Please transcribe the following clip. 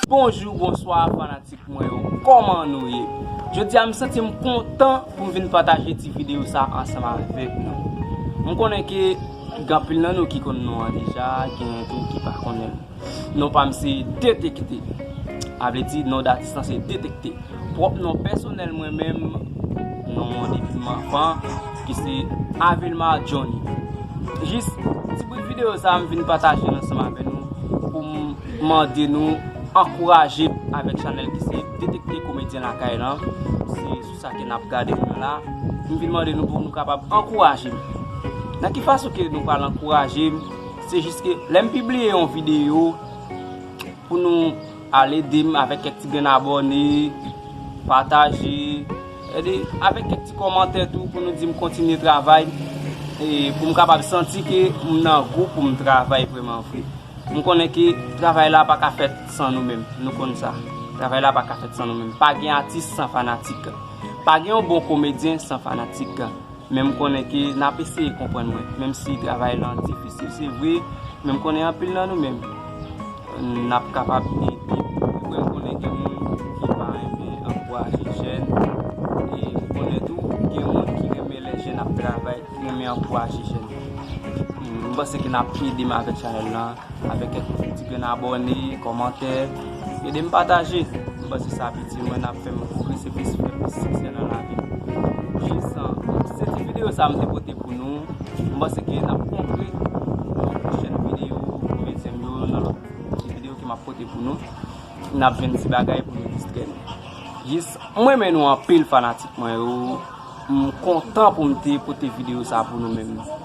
Bonjou bonswa fanatik mwen yo Koman nou ye Jodi a m santi m kontan pou m vin pataje ti video sa ansanm avèk nou M konnen ke gen anpil nan nou ki konnen nou an deja Gen tou ki pa konnen Non pa m se Detekte. A vle di non datis lan se Detekte. Pwòp non pèsonèl mwen menm, non mwen depi m anfan, ki se Avilmar Johnny. Jis ti bout videyo sa a m vin pataje l ansanm avè nou pou m mande nou ankouraje m avèk chanèl ki se Detekte Komedyen Lakay lan. Se sou sa ke n ap gade nou la. M vin mande nou pou nou kapab ankouraje m. Nan ki fason ke nou pral ankouraje m? Se jis ke lè m pibliye yon videyo pou nou al ede m avèk kèk ti grenn abòne, pataje, sèdi avèk kèk ti kòmantè tou pou nou di m kontinye travay e pou m kapab santi ke m nan gou pou m travay vreman vre. M konnen ke travay la pa ka fèt san nou menm, nou konn sa. Travay la pa ka fèt san nou menm. Pa gen atis san fanatik. Pa gen yon bon komedyen san fanatik. Men m konnen ke n ap eseye konprann mwen, menm si travay lan difisil se vre, men m konnen anpil nan nou menm n ap kapab ede. Se vre m konnen gen moun ki pa renmen ankouraje jèn, e m konnen tou gen moun ki renmen lè jèn ap travay, ki renmen ankouraje jèn. M panse ke n ap ede m avèk chanèl lan. Avèk kèk ti grenn abòne, kòmantè, ede m pataje. M panse sa ap itil mwen, ap fè m pwogrese plis, fè plis siksè nan lavi m. Vincent, se ti videyo sa m te pote pou nou. M panse ke n ap kontre nan pwochèn videyo pou ventyèm yo, nan lòt ti videyo ke m ap pote pou nou. N ap jwenn ti bagay pou nou distrè nou. Jis, m renmen nou anpil fanatik mwen yo. M kontan pou m te pote videyo sa pou nou menm.